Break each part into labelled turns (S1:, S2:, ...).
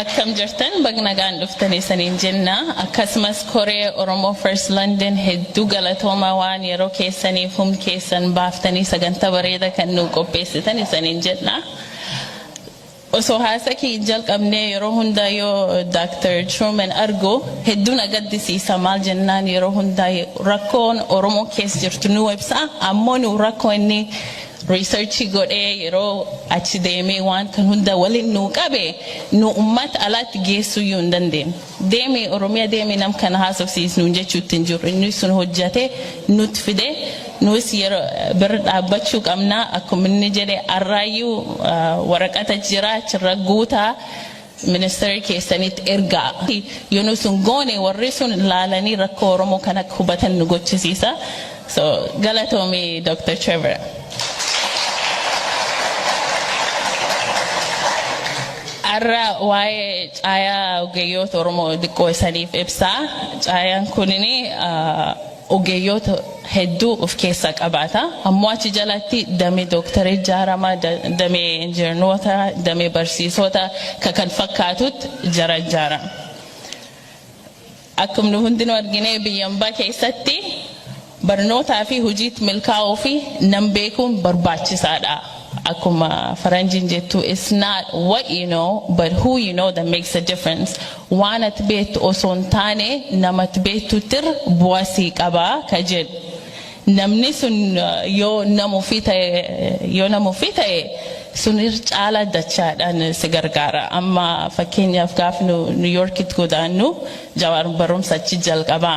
S1: akkam jirtan bagnagaan dhuftan isaniin jenna akkasumas koree oromoo first london hedduu galatooma waan yeroo keessaniif hum keessan baaftanii sagantaa bareeda kan nuu qopheessitan isaniin jenna Osoo haasa kee hin jalqabnee yeroo hundaa yoo Dr. Truman argu hedduu na gaddisiisa maal jennaan yeroo hundaa rakkoon Oromoo kees jirtu nuu ibsa ammoo nuu rakkoo inni research godhee yeroo achi deemee waan kan hunda walin nuu qabe nuu ummata alaatti geessuyyuu hin dandeenye. Deemi oromiya deemi nam kana haasofsiis nuun jechuutti hin jirru inni sun hojjate nut fide nuus yero bir dhaabbachuu qabna akkum inni jedhe arraayyuu waraqata jira achirra guutaa ministeri keessanitti ergaa yoo nu sun goone warri sun laalanii rakkoo oromoo kan akka hubatan nu gochisiisa So galatoomi Dr. Trevor. Har'a waa'ee caayaa ogeeyyoota Oromoo diqqoo isaniif ibsaa. Caayaan kunin ogeeyyoota hedduu of keessaa qabaata. Ammoo achi jalatti damee dooktarii ijaarama, damee injiinoota, damee barsiisota kan fakkaatutti jara ijaarama. Akkuma nu hundinuu argine biyya ambaa keessatti barnootaa fi hojiitti milkaa'uu fi nam beekuun barbaachisaa dha. Akkuma faranjiin jettu it's not what you know but who you know that makes a difference. Waan ati beektu osoo hin taane nama ati beektuutti irra bu'aa sii qaba ka jedhu. Namni sun yoo nama ofii ta'e yoo nama ofii ta'e sun irra caalaa dachaadhaan si gargaara. Amma fakkeenyaaf gaaf nu New Yorkitti godaannu Jawaar barumsa achi jalqaba.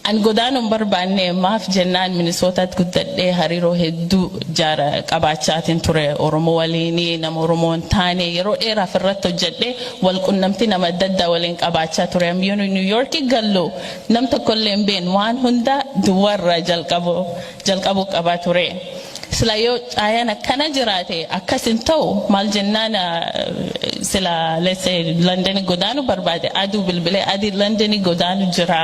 S1: An godaanuu hin barbaanne maaf jennaan Minisootaatti guddadhee hariiroo hedduu jaara qabaachaatiin ture Oromoo waliini nama Oromoo hin taane yeroo dheeraaf irratti hojjedhee wal qunnamtii nama adda addaa waliin qabaachaa ture. Am yoonu New Yorki gallu Nam tokko illee hin beeknu waan hunda duwwaa irraa jalqabuu jalqabuu qaba ture. Sila yoo caayaan akkana jiraate akkas hin ta'u maal jennaan ah, sila let's say London godaanu barbaade aduu bilbilee adii London godaanu jira.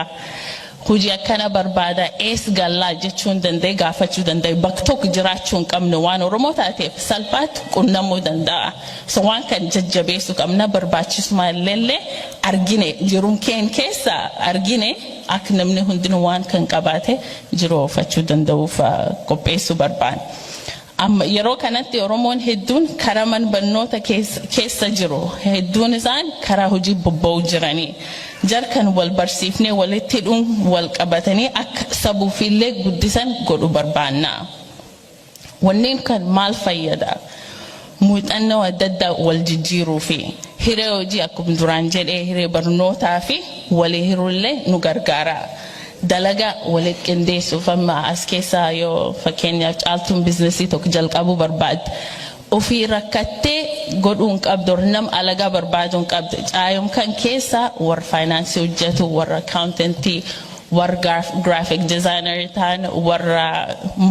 S1: Hojii akkana barbaada ees gallaa jechuu hin danda'e gaafachuu danda'e bakka tokko jiraachuu hin qabnu waan Oromoo taateef salphaatti qunnamuu danda'a. So waan kan jajjabeessu qabna barbaachisuma illelle argine jiruun keen keessa argine ak namni hundinu waan kan qabaate jiroofachu danda'uuf qopheessu barbaan. Amma yeroo kanatti Oromoon hedduun kara man bannoota keessa jiru hedduun isaan karaa hojii bobba'u jiranii jar kan wal barsiifnee walitti hidhuun wal qabatanii ak sabuufiillee guddisan godhu barbaannaa. Wanneen kan maal fayyada? Muuxannoo adda addaa wal jijjiiruu fi hiree hojii akkuma duraan jedhee hiree barnootaa fi walii hiruu illee nu gargaara. Dalaga walitti qindeessuuf amma as keessaa yoo fakkeenyaaf caaltuun biiznasii tokko jalqabuu barbaadde Ofii rakkattee godhuu hin qabdu or nam alagaa barbaaduu hin qabdu. Caayom kan keessa warra faayinaansii hojjetu, warra akkaawuntantii, warra gaaf- giraafiik dizaayinarii ta'an, warra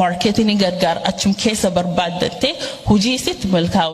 S1: maarkeetinii gargaar achum keessa barbaaddattee hojii isitti milkaa'u.